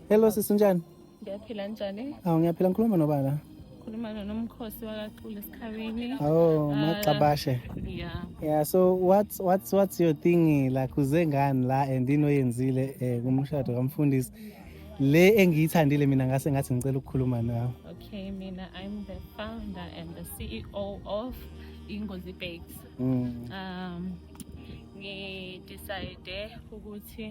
Hello sisi unjani? Ngiyaphila njani? Awu ngiyaphila ngikhuluma noba la. Khuluma nomkhosi wakaqule esikhabini. Oh, ah, magxabashe. Yeah. Yeah, so what's what's what's your thing la kuze ngani la and into oyenzile eh kumshado kamfundisi? Le engiyithandile mina ngase ngathi ngicela ukukhuluma nawe. Okay, mina I'm the founder and the CEO of Ingozi Bakes. Mm. Um ngidecide ukuthi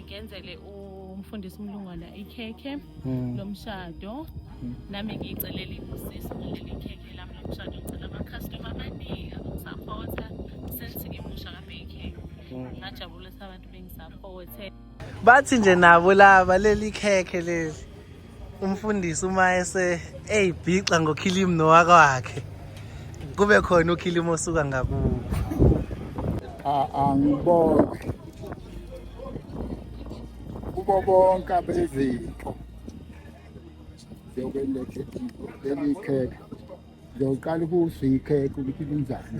ngenzele umfundisi umlungwana ikhekhe hmm. lomshado hmm. nami ngiyicelela ibusisi ngaleli khekhe lami lomshado ngicela amakhastoma amaningi azongisapotha since ngimusha kabekhekhe hmm. ngajabulisa abantu bengisaphothe bathi nje nabo laba leli khekhe leli umfundisi uma ese eyibhixa ngokhilimu nowaka wakhe kube khona ukhilimu osuka ngakubo angibonge kubo bonke abezinto zokwenlethe leli khekhe ngiyoqala ukuwusikhekhe ukuthi linjani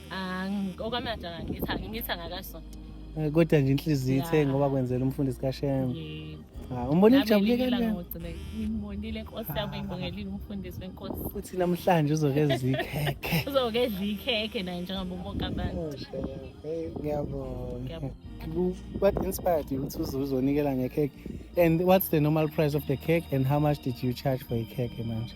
okwamanje angangitha ngingitha ngakasonto eh, kodwa nje inhliziyo ithe ngoba kwenzela umfundisi kashema ah, umbone ijabule kanjani ngimbonile nkosi yami ngibongelile umfundisi wenkosi futhi namhlanje uzokedla ikhekhe uzokedla ikhekhe naye njengoba ubonke abantu oh, ngiyabonga what inspired you to uzonikela ngekhekhe and what's the normal price of the cake and how much did you charge for a cake manje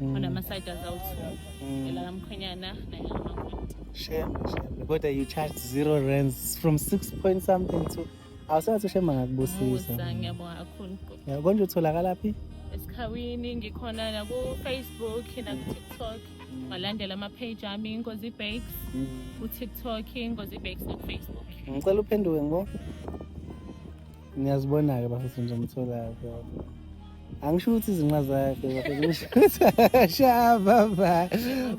mm. onama-side azawuthu mm. elakamkhwenyana nayelamakhwenyana shame shame kodwa you charge zero rands from six point something to awusathi ushema ngakubusisa ngiyabonga kakhulu konje utholakala phi esikhawini ngikhona nakufacebook nakutiktok walandela mm. ama-page ami ingozi bakes utiktok ingozi bakes nakufacebook ngicela uphenduke ngo Niyazibona-ke bafethu ngizomthola-ke. Angisho ukuthi izinqa zakhe bafethu ngisho ukuthi akashaba ba.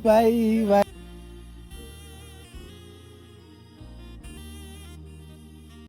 Bayi bayi.